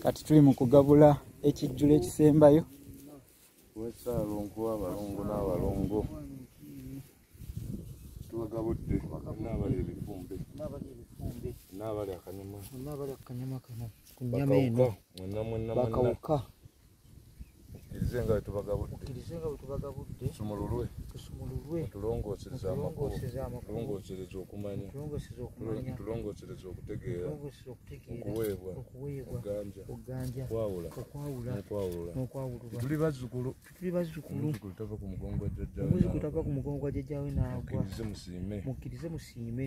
kati tuli mu kugabula ekijjulo ekisembayo wesaalongo abalongo n'abalongo tubagabudde naabali ebifumbe naabali akanyama kano ku nyama eno bakawuka tukkirize nga wetubagabudde tusumululwe tulongooseza amakubolongosereza okumanya tulongosereza okutegeera okuweebwa okuganja okwawula nokwawulula tuli bazzukulu omuzukulu tava ku mugongo gwa jjajjawe naagwa mukkirize musiime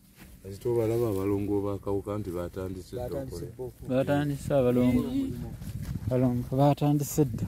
Azito balaba abalongo bakawuka nti batandise dda okole. Batandise abalongo. Abalongo batandise dda.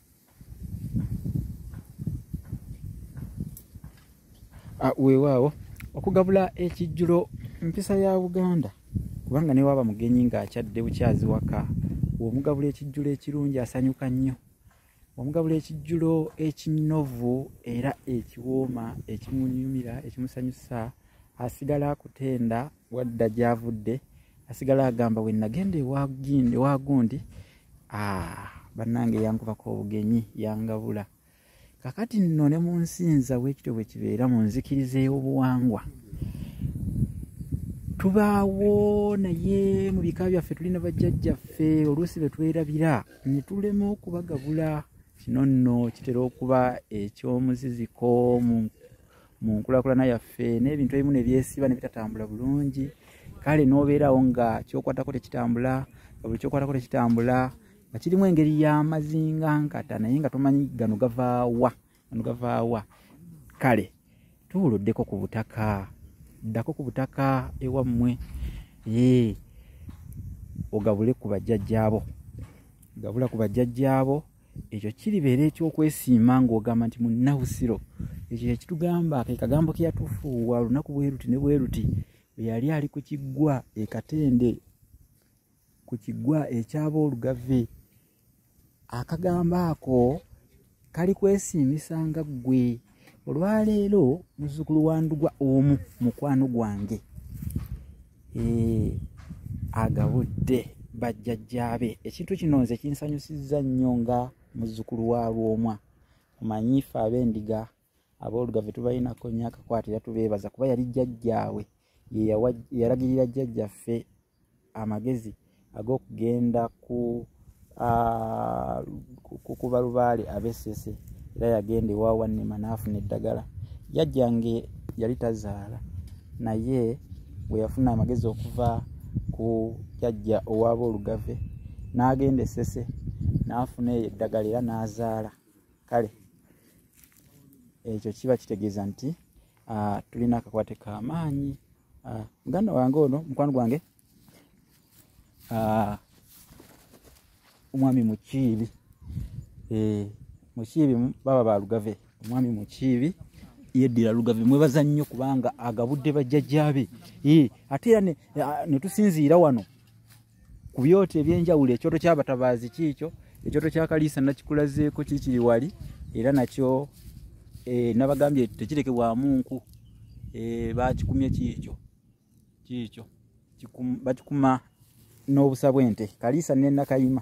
weewaawo okugabula ekijjulo mpisa ya buganda kubanga ne waaba mugenyi ng'akyadde bukyazi waka omugabula ekijjulo ekirungi asanyuka nnyo omugabula ekijjulo ekinovu era ekiwooma ekimunyumira ekimusanyusa asigala akutenda wadda gyavudde asigala agamba we nagenda ewagundi ah, bannange yankubako obugenyi yangabula kakati nno ne mu nsinza bwekityo bwe kibeera mu nzikiriza ey'obuwangwa tubaawo naye mu bika byaffe tulina bajjajjaffe oluusi be twerabira ne tulema okubagabula kino nno kitera okuba eky'omuziziko mu mu nkulakulana yaffe n'ebintu ebimu ne byesiba ne bitatambula bulungi kale n'obeerawo nga kyokwatako tekitambula nga buli kyokwatako tekitambula nga kirimu engeri y'amazinga nkata naye nga tomanyi gano gavaawa gano gavaawa kale tuwuluddeko ku butaka ddako ku butaka ewammwe ee ogabule ku bajjajjaabo gabula ku bajjajjaabo ekyo kiribeera ekyokwesiima ng'ogamba nti munnabusiro ekyo kyekitugamba ke kagambo ke yatufuuwa olunaku bweruti ne bweruti bwe yali ali ku kiggwa ekatende ku kiggwa ekyaba olugave akagambo ako kali kwesiimisa nga ggwe olwaleero muzukulu wandugwa omu mukwano gwange eh, agabudde bajjajjaabe ekintu kino nze kinsanyusizza nnyo nga muzukulu wa lwomwa omanyi fe abendiga aboolugave tubalinako nnyo akakwatira tubeebaza kuba yali jjajjaawe yeyalagirira jjajjaffe amagezi ag'okugenda ku kukuba lubaale abesese era yagenda ewa wannema n'afuna eddagala jajja nge yali tazaala naye bwe yafuna amagezi okuva ku jajja owaaba olugave n'agenda esese n'afuna eyo eddagala era n'azaala kale ekyo kiba kitegeeza nti Ah, tulina akakwate kamaanyi ah, muganda wange ono mukwano gwange ah, omwami mukiibi eh, mukiibi baba balugave omwami mukiibi yeddira lugave mwebaza nnyo kubanga agabudde bajjajjabe eh, ate era netusinziira wano ku byoto ebyenjawulo ekyoto kyabatabaazi kiikyo ekyoto kya kaliisa nakikulazeeko kikiri wali era nakyo eh, nabagambye tekirekebwamu nku eh, bakikumye kiikyo kiikyo bakikuma n'obusa bw'ente kaliisa nenakayima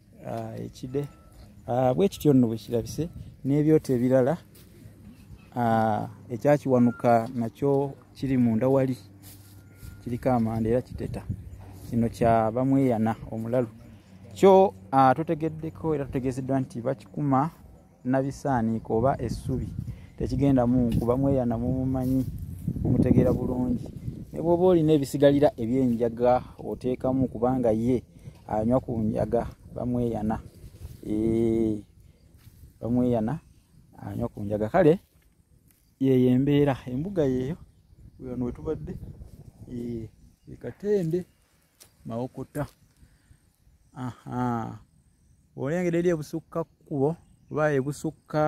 ah, ekide ah, bwekityo nno bwekirabise n'ebyoto ebirala ah, ekyakiwanuka nakyo kiri munda wali kiriko amanda era kiteta kino kya bamweyana omulalu kyo totegeddeko era tutegezeddwa nti bakikuma nabisaaniika oba essubi tekigenda munkuba mweyana mumumanyi mumutegeera bulungi ne bwoba olina ebisigalira ebyenjaga oteekamu kubanga ye anywa ku njaga bamweyana bamweyana anywa ku njaga kale yeyo embeera embuga yeeyo wano wetubadde ekatende mawokota aha olengera eri ebusukka kkubo oba ebusukka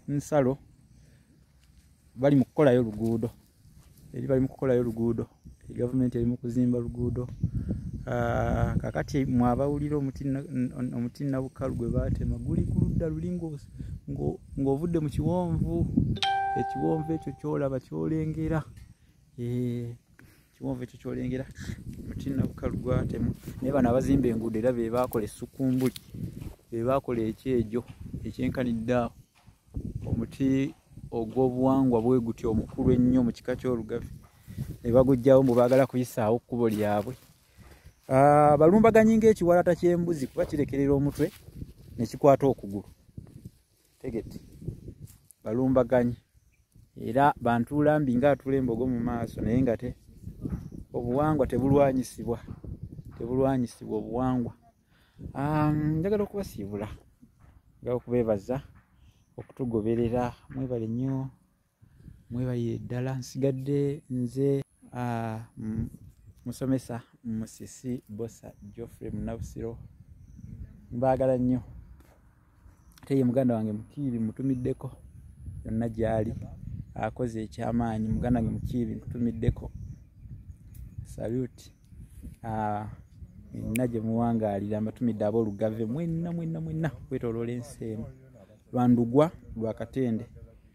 nsalo bali mu kukolayo luguudo eri bali mu kukolayo luguudo gavumenti eri mu kuzimba luguudo ah, kakati mwabawulira omuti nabukalu gwe baatema guli ku ludda luli ng'ovudde mu kiwonvu ekiwonvu ekyo kyolaba kyolengera eh, kiwonvu ekyo kyolengera muti nabukalu gwatemu naye bano abazimba enguudo era be baakola essukumbuli be baakola ekyejo ekyenkanidde awo omuti ogw'obuwangwa bwe gutya omukulu ennyo mu kika ky'olugavi ne bagujjawo mbu baagala kuyisaawo kkubo lyabwe ah, balumbaganyi ng'ekiwalata ky'embuzi kuba kirekerera omutwe ne kikwata okugulu tegete balumbaganyi era bantuula mbi nga atula embogo mu maaso naye nga te obuwangwa tebulwanyisibwa tebulwanyisibwa obuwangwa njagala okubasiibula njagala okubeebaza okutugoberera mwebale nnyo mwebalire ddala nsigadde nze uh, musomesa musisi bosa geoffrey munabusiro mbaagala nnyo ate ye muganda wange mukiibi mutumiddeko yonna gyali akoze ekyamaanyi muganda wange mukiibi mutumiddeko saluti ah, nina gye muwangaalira mbatumidde aboolugave mwenna mwenna mwenna kwetoloola ensi emu lwandugwa lwakatende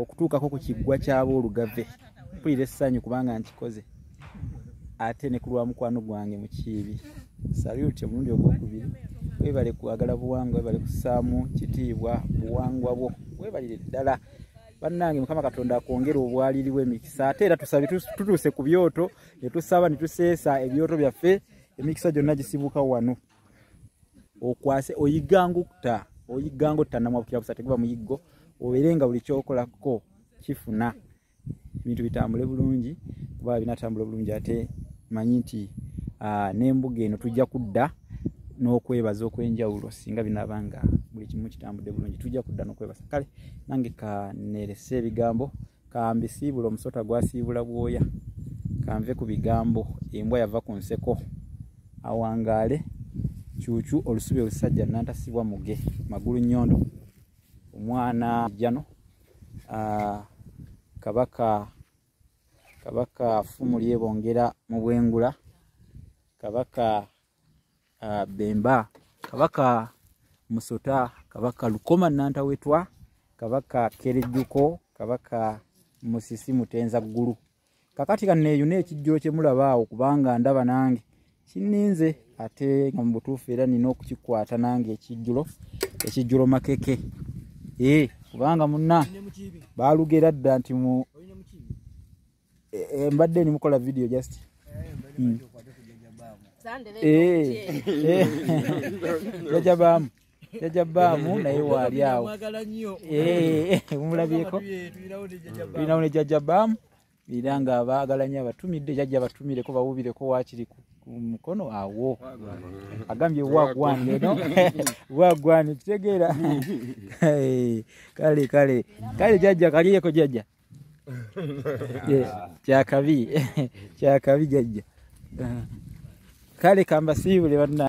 okutuukako ku kiggwa ky'aboolugave mpulira essanyu kubanga nkikoze ate ne ku lwa mukwano gwange mu kiibi saluti omulundi ogwokubiri webale kwagala buwangwa webale kusaamu kitiibwa buwangwa bwo webalire ddala bannange mukama katonda akwongere obwaliriwo emikisa ate era tusabe tutuuse ku byoto ne tusaba ne tuseesa ebyoto byaffe emikisa gyonna gisibuka wano okwase oyigangu kutta oyigangu kutta namwabukira busa teguba muyiggo obeere nga buli kyokolako kifuna ebintu bitambule bulungi kuba binatambula bulungi ate manyi nti ah, n'embuga eno tujja kudda n'okwebaza okwenjawulo singa binaaba nga buli kimu kitambudde bulungi tujja kudda n'okwebaza kale nange kanerese ebigambo kambisiibula omusota gwasiibula bwoya kanve ku bigambo embwa yava ku nseko awangaale kyukyu olusubi olusajja nantasibwa muge magulu nyondo omwana jjano kabaka kabaka fumu lyebongera mu bwengula kabaka uh, bemba kabaka musota kabaka lukoma nantawetwa kabaka kerejuko kabaka musisi mutenza ggulu kakati kaneeyuna ekijjulo kye mulabaawo kubanga ndaba nange kininze ate nga mu butuufu era nina okukikwata nange ekijjulo ekijjulo makeke ee eh, kubanga munna baalugera dda nti mu Eh, eh, mbadde nimukola video just hmm. eh, jaja baamu jaja baamu naye waali awo mumulabyeko tulinawo ne jaja baamu era nga baagala nyo abatumidde jaja batumireko bawubireko wakiri ku mukono awo agambye wagwan eno wagwan kitegeera kale kale kale jaja kaliyeko jaja kyakabi kyakabi jajja kale kambasiibule banna